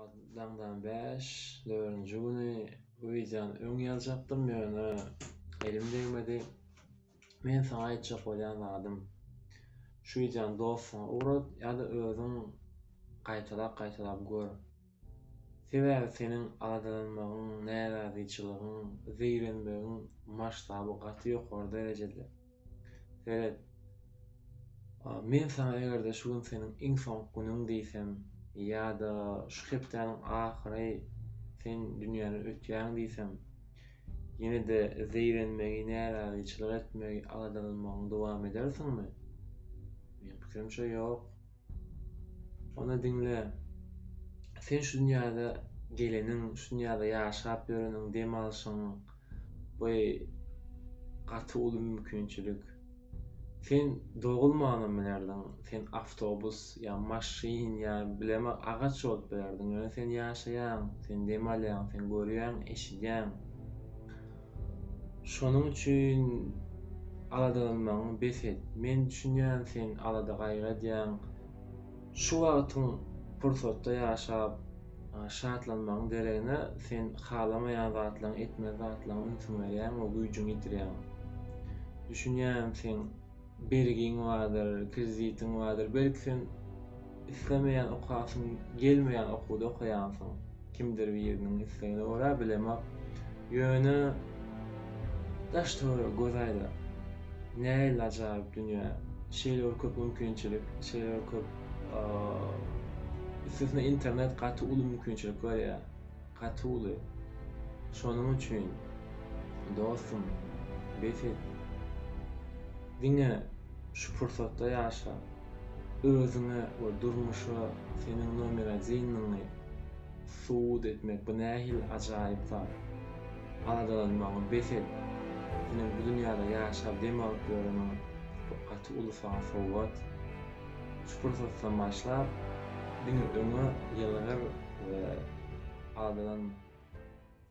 Sagat daňdan bäş nölinji güni wideony öň ýazjakdym, ýöne elim degmedi. Men saňa aýtjak bolýan zadym, şu wideony dostuňa ugrat ýa-da özüň gaýtalap-gaýtalap gör. Sebäbi seniň aladalanmagyň, närazyçylygyň, zeýrenmegiň masştaby gaty ýokary derejede. Seret. Men saňa eger-de şu gün seniň iň soňky günüň diýsem, ýa-da şu hepdäniň ahyry sen dünýäden ötýäň diýsem, ýene-de zeýrenmegi, närazyçylyk etmegi, aladalanmagyňy dowam edersiňmi? Meniň pikirimçe, ýok. Ony diňle. Sen şu dünýäde geleniň, şu dünýäde ýaşap ýöreniň, dem alşyň, bu gaty uly mümkinçilik. Sen dogulmanam bilerdiň, sen awtobus ýa maşyn ýa bileme agaç bolup bilerdiň, ýöne sen ýaşaýaň, sen dem alýaň, sen görýäň, eşidýäň. Şonuň üçin aladalanmagyňy bes et. Men düşünýän sen alada-gaýgy edýäň. Şu wagtyň pursatda ýaşap, şatlanmagyň deregine sen halamaýan zatlaryň, etmez zatlaryň ünsüňi berýäň we güýjüňi ýitirýäň. Düşünýän sen Bergiň bardyr, kreditiň bardyr. Belki sen islemeýän okasyň gelmeýän okuwda okaýansyň. Kimdir biriniň islegine görä bilemok. Ýöne daş-töwerege göz aýla. Nähili ajaýyp dünýä. Şeýle bir köp mümkinçilik, şeýle bir köp üstesine internet gaty uly mümkinçilik berýär. Gaty uly. Şonuň üçin dostum bes et. Diňe şu pursatda ýaşa. Özüňe we durmuşa seniň nomer adinligiňi subut etmek bu nähili ajaýyp zat. Aladalanmagy bes et. Seniň bu dünýäde ýaşap dem alyp ýöreniň bu gaty uly saňa sowgat. Şu pursatdan başlap diňe öňe ýylgyr we adyňyň.